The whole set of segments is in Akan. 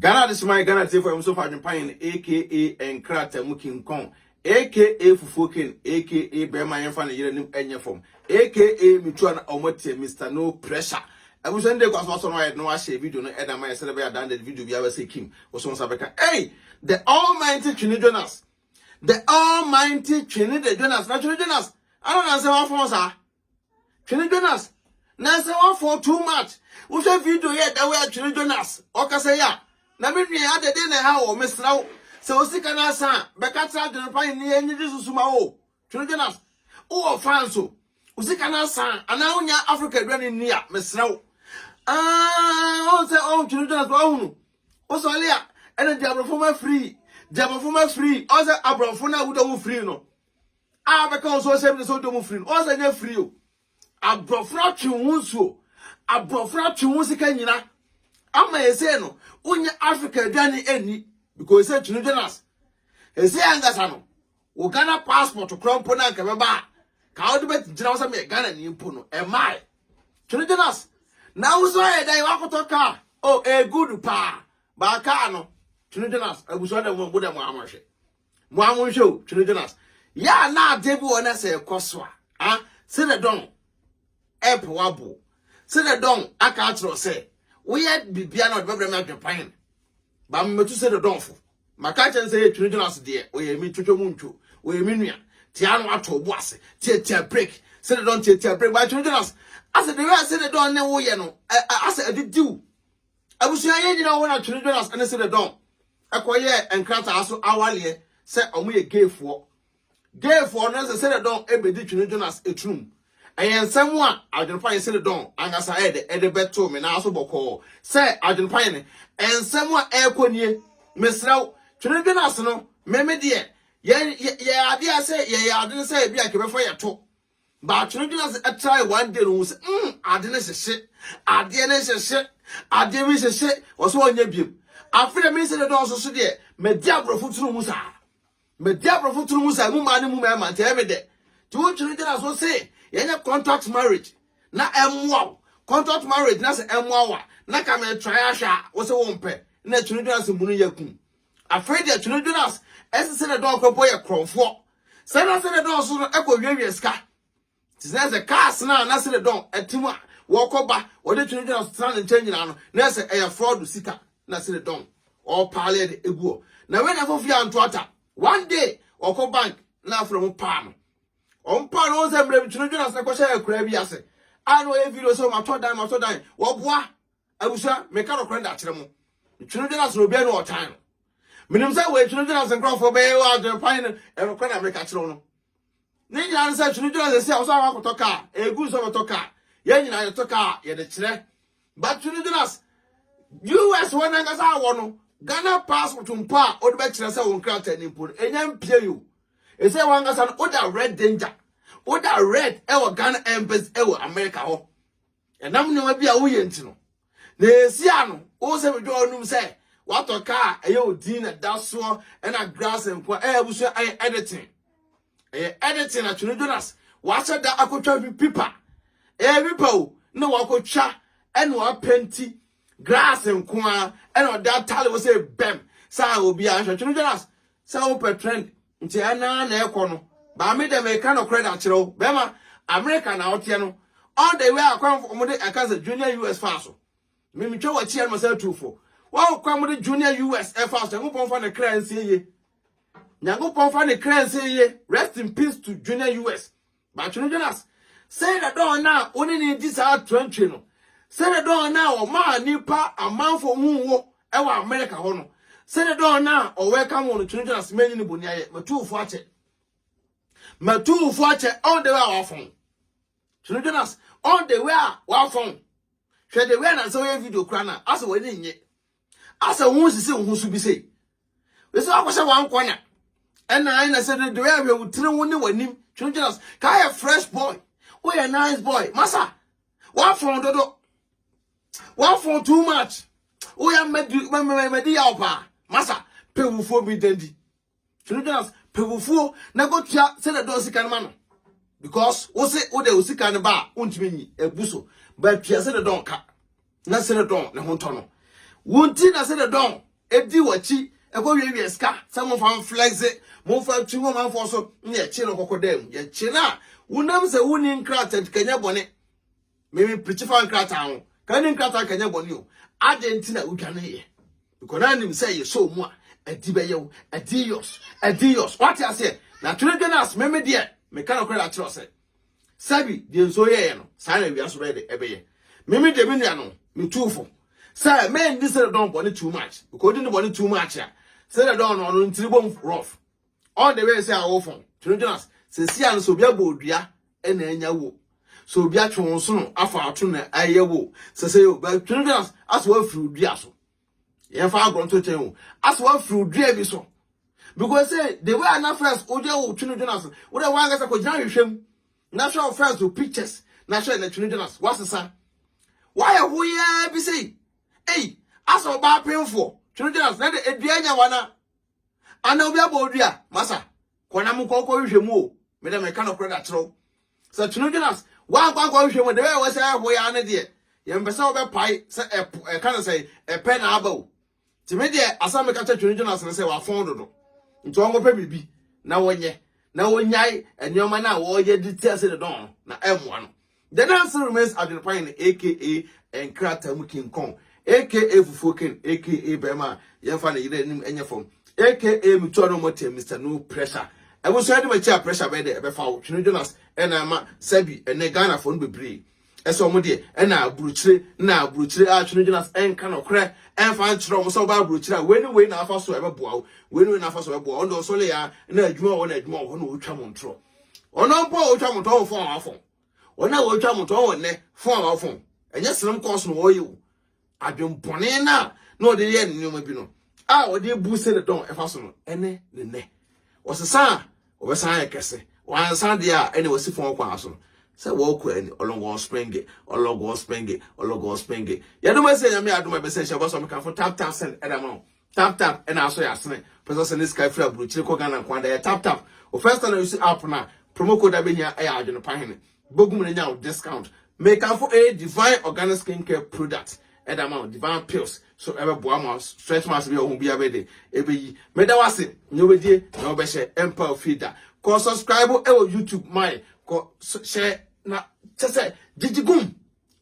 Ghana adesemma yɛ Ghana atiefo a wɔn sofo adwempanyin aka nkrataa mu king kong aka fufuo king aka bɛrima yɛnfa ne yere anim nyɛ fam aka mitua na wɔn atia Mister no pressure abusua no de kɔ asomafo no ayɛ na wɔahyɛ video no ɛda ma yɛ sɛdeɛ bɛyɛ adan de video bi abɛsɛ kim wɔsɔn nsa bɛka ei the almighty twene jonas the almighty twene the jonas na twene jonas ana na nsɛm afɔn saa Twene Jonas nansa wafɔn too much. Wohwɛ video yɛ da wɔ Twene Jonas ɔkasa yi a na me nua adɛ den na ɛha wɔ mesrɛ wo sɛ wo sika no asa a bɛka kyerɛ adwene pa ne yɛ nyigye susu ma wo Twene Jonas wowɔ fans o wo sika no asa anaa wonya Africa aduane nni a mesrɛ wo ɔn sɛ ɔn Twene Jonas pa ɔhunu wo sɔle a ɛna diabrɔfo ma free diabrɔfo ma free ɔn sɛ abrɔfo no a wodɔ wo free no a ɔbɛka wo so ɔhyɛ me ne sɛ wodɔ mu firi no ɔsɛ nyɛ firi o aborɔforo atwe wo ho nsuo aborɔforo atwe wo sika nyina ama ɛsɛ no wonyɛ africa aduane ɛnni because sɛ twene jonas ɛsɛ ankasa no wo ghana passport korɔ mpo no anka bɛba a ka wode bɛgyina wo sɛ meyɛ ghana ni mpo no ɛmae twene jonas na wo so ayɛ dɛn woakɔtɔ kaa o ɛgudu paa baakaa no twene jonas abusua dɛ mo dɛ mo amɔhwɛ mo a mo nhwɛ o twene jonas yɛ a na ade bi wɔ na sɛ ɛkɔ so a a sɛ dɛ dɔn ɛpɛ wabo sɛ dɛ dɔn aka akyerɛ sɛ woyɛ bibia na ɔde bɛbrɛ me adwepan ba mmɛtu sɛ dɛ dɔn fo maka kyɛn sɛ yɛ twene jonas deɛ ɔyɛ me twitwa mu ntwo ɔyɛ me nua tia no ato bo ase tiatia break sɛ dɛ dɔn tiatia break ba twene jonas asɛ de wɛ sɛ dɛ dɔn ne woyɛ no asɛ ɛde diw Abusua yɛn nyinaa hɔ na Twene Jonas ne Sede Don kɔyɛɛ nkrataa so awaleɛ sɛ wɔyɛ gayfoɔ. Gayfoɔ no sɛ Sede Don bɛdi Twene Jonas turum. Ɛyɛ nsɛm a adwenepa yɛ Sede Don ankasa de bɛtoo me nan so bɔkɔɔ sɛ adwenepa yɛ ne nsɛm a ɛrekɔ nie. Mesrɛ wo, Twene Jonas no, me me deɛ, yɛn yɛn adeɛ a sɛ yɛyɛ ade no sɛ ebi a nka ɛbɛfa yɛto But no gyina sɛ ɛtrae one day no hu sɛ mm ade no hyehye adeɛ no hyehye adeɛ bi hyehye wɔ sɛ ɔnyɛ biem afei deɛ mensɛ dɛdɛ ɔso so deɛ madi aborɔfo tunu mu saa madi aborɔfo tunu mu saa mu maa no mu mɛma nti ɛyɛ me dɛ nti wotwe no gyina so se yɛnyɛ contact marriage na ɛmmoa wo contact marriage na sɛ ɛmmoa wo a na ka metrae ahwɛ a wo sɛ wompɛ na ɛtwe no gyina so mu no yɛ kum Afei deɛ Twerɛ Jonas ɛse sɛdeɛ dɔɔ kɔ bɔ yɛ korɔmfoɔ sɛ na sɛdeɛ dɔɔ so no ɛkɔ wiawia sika te sɛ sɛ cars no a na sɛdeɛ dɔɔ ɛte mu a wɔkɔ ba wɔde Twerɛ Jonas tena ne nkyɛn nyinaa no na ɛsɛ ɛyɛ fraud sika na sɛdeɛ dɔɔ ɔpaale de eguɔ na wei na ɛfɔ fie anto ata one day ɔkɔ bank na afrɛ mo paa no wɔn paa no wɔn sɛ mmerɛ bi Twerɛ Jonas na ɛkɔhyɛ akuraa bi ase a na wɔyɛ video sɛ wɔatɔ dan wɔatɔ dan wɔboa Abusua, meka nokorɛ de akyerɛ mo, ntwenedwene ase na obiara ne ɔtan no. Menim sɛ wɔ ntwenedwene ase nkurɔfoɔ bɛyɛ wɔ adwene pan no, ɛyɛ nokorɛ na meka kyerɛ wo no. Ne nyinaa ne sɛ ntwenedwene ase si a wɔsɛ akɔtɔ kaa, ɛgu nso bɛtɔ kaa. Yɛn nyinaa yɛtɔ kaa a, yɛde kyerɛ. But ntwenedwene ase, US hɔ nankasa awɔ no, Ghana passport mpo a wode bɛkyerɛ sɛ wo nkrataa ni mpo no, ɛnya mpie yi o. Ɛsɛ wɔn ankasa no, woda red danger, woda red ɛwɔ Ghana embassy ɛwɔ America hɔ. ɛnam nneɛma bi a woyɛ nti no na esi ano wo sɛ medwa ɔnum sɛ watɔ kaa ɛyɛ odin na da soɔ ɛna grass nko a ɛyɛ abusua ɛyɛ editing ɛyɛ editing na twene jonas wahyɛ da akɔtwa bi pipa ɛyɛ pipa o na wakɔtwa ɛna wapɛnti grass nko a ɛna ɔde atale wo sɛ bɛm sɛ obi anhwɛ twene jonas sɛ wopɛ trend Nti ɛna na ɛkɔ no baa me dɛ meka nokorɛ de akyerɛ wo bɛma America na woteɛ no all the way a kwan fo ɔmo de ɛka sɛ junior US faa so me me twa wakyi ɛna ɔsan tuu fo wɔn kwan mo de junior US ɛfaa so Nyankopɔn fa ne kra nsie yie Nyankopɔn fa ne kra nsie yie rest in peace to junior US But no dwen as sɛ da dɔn no a wo ne no redi saa atorantwie no, sɛ da dɔn no a ɔmaa nnipa amanfo huu wo wɔ America hɔ no, sɛ da dɔn no a ɔwɛlkam wo no, twe no dwen as manyi no boniayɛ, matu wo fo akyɛ. Matu wo fo akyɛ all the way a wafa wo. Twe no dwen as all the way a wafa wo. Hwɛ the way a na sɛ woyɛ video kora no a, asɛ w'ani nnye. asɛ wo ho sisi wo ho so bi sei wei sɛ wakɔhyɛ wankɔ na ɛna ayɛ na sɛ de de ɛhwɛ wo tiri wo ne w'anim twentwɛn ase ka ayɛ fresh boy woyɛ nice boy masa wafɔn dodo wafɔn too much woyɛ mmadi mmadi yaw paa masa pɛ wufoɔ bi dandi Tumi gyina pɛbufuo na kɔtua sɛdeɛ dɔɔ sika no ma no because wo se wo de wo sika no ba a wontumi nyi ebu so but tua sɛdeɛ dɔn ka na sɛdeɛ dɔn ne ho ntɔ no wo nti na sɛdeɛ dɔn edi w'akyi ɛkɔ wiawia sika sɛ mofa mflɛgze mofa twi wɔ manfoɔ so ne yɛkye no kɔkɔ dan mu yɛkye no a wonam sɛ wonni nkrataa nti kanya bɔne Merepete fa nkrataa ho. Ka ne nkrataa ka nyɛ bɔne o. Adɛn nti na wodwaneeɛ? Because na nim sɛ yɛ sɔɔ mu a, ɛdi bɛyɛ wo. Ɛdi yɔs. Ɛdi yɔs. Wate aseɛ? Na twene dwene ase meme deɛ. Meka no kora akyerɛ sɛ. Sɛbi deɛ nsuo yɛeɛ no, saa na awia so bɛyɛ de ɛbɛyɛ. Meme deɛ me nua no, metuu fo. Sɛ mendi sɛ dɔn bɔne too much. Because wodi ne bɔne too much a, sɛ dɔn no ɔno ne tiri bom rough. All the way sɛ awofo, Twerɛ Jonas, sɛsi a no sɛ obi abɔ odua na anya wo, sɛ obi atwe wo nsono afa ato na ayɛ wo, sɛ sɛ yɛ obi, Twerɛ Jonas, asɛ wafiri odua so. Yɛmfa agorɔ nto kyɛn o, asɛ wafiri odua bi so. Because sɛ the way a na first wogya wo Twerɛ Jonas, wodɛ wankasa kɔgyina ahwehwɛ mu, na hwɛ wo first wo pictures, na hwɛ na Twerɛ Jonas, wasesa. Wayɛ ho yɛ bi sei, ei, asɛ ɔbaa penfoɔ, Twerɛ Jonas, na de adua anya wana. ana obi abɔ odi a masa kɔ na mokɔ kɔ nhwɛ mu o me dɛ meka no korɛ da kyerɛw sɛ tunu jonas wankɔ ankɔ nhwɛ mu de bɛyɛ wɔ sɛ ɛho ya ne deɛ yɛn pɛ sɛ wɔbɛpae sɛ ɛpo ɛka no sɛ ɛpɛ na aba o ti me deɛ asɛm meka kyɛ tunu jonas no sɛ wafɔn dodo nti wɔnkɔpɛ biribi na wɔnyɛ na wɔnyae nneɛma no a wɔyɛ de ti ase de dɔn no na ɛmmoa no The Nancy Remains Adwenepae no aka nkrataa mu King Kong aka Fufuo Ken aka Barima a Yɛmfa Ne Yere Anim Nyɛ Fam aka Metua No Mmɔteɛ Mister No Pressure Abusua Yɛde M'akyi a Pressure Bɛyɛ Dɛ Ɛbɛfa Wo Twene Jonas na Ɛma Sɛbi Ɛnnɛ Ghanafoɔ no Bebree Sɛ Wɔn Deɛ Ɛna Aburokyire Na Aburokyire a Twene Jonas Nka Nɔkorɛ Mfa Nkyerɛ Wɔn Sɛ Wobaa Aburokyire a Wei Ne Wei Na Afa So Ɛbɛboa Wo Wei Ne Wei Na Afa So Ɛbɛboa Wo Ndɔnso Leah Na Adwuma Wɔ Hɔ Na Adwuma Wɔ Hɔ Na Ɔretwa Mo Ntorɔ. Ɔno mpo a wɔtwa mo tɔn wɔ fon a wafon. Wɔn a wɔtwa mo tɔn wɔ nnɛ fon a wafon. Ɛnyɛ srem kɔɔso na wɔyɛ o. Adwempɔne no a na ɔde yɛ nneɛma bi no a ɔde bu sɛ ne dɔn ɛfa so no ɛne ne nnɛ. Ɔsesa a ɔbɛsan ayɛ kɛse. Wansa deɛ a ɛne wɔsi fon kwan so no sɛ wɔkɔ ani ɔlɔgɔn spenge ɔlɔgɔn spenge ɔlɔgɔn spenge. Yɛdom ɛsɛ nyame adom ɛbɛsɛ nhyɛ bɔsɔ mekanfo tap tap send ɛdama o. Tap tap ɛna asɔ yɛ asene pɛsɛ sɛ ne sika firi aburokyire kɔ Ghana nko ada yɛ tap tap o first time na yusi app na promo code abɛhia ɛyɛ adwene pa hene bɛgu mu na nya o discount mekamfo ɛyɛ divine organic skin care product ɛda ma o divine pills so ɛbɛboa ma stretch marks bi a ɔho bia bɛde ɛbɛyi meda wase nyɛ wobɛdie na wobɛhyɛ ɛmpa ofie da kɔ subscribe ɛwɔ youtube mae kɔ hyɛ na kyɛ sɛ gyigyi gum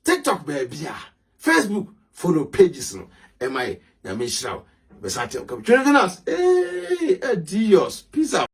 tiktok baabi a facebook follow pages no ɛma yɛ nyame nhyira wo bɛsa kyɛ wo twere finance ee adios peace out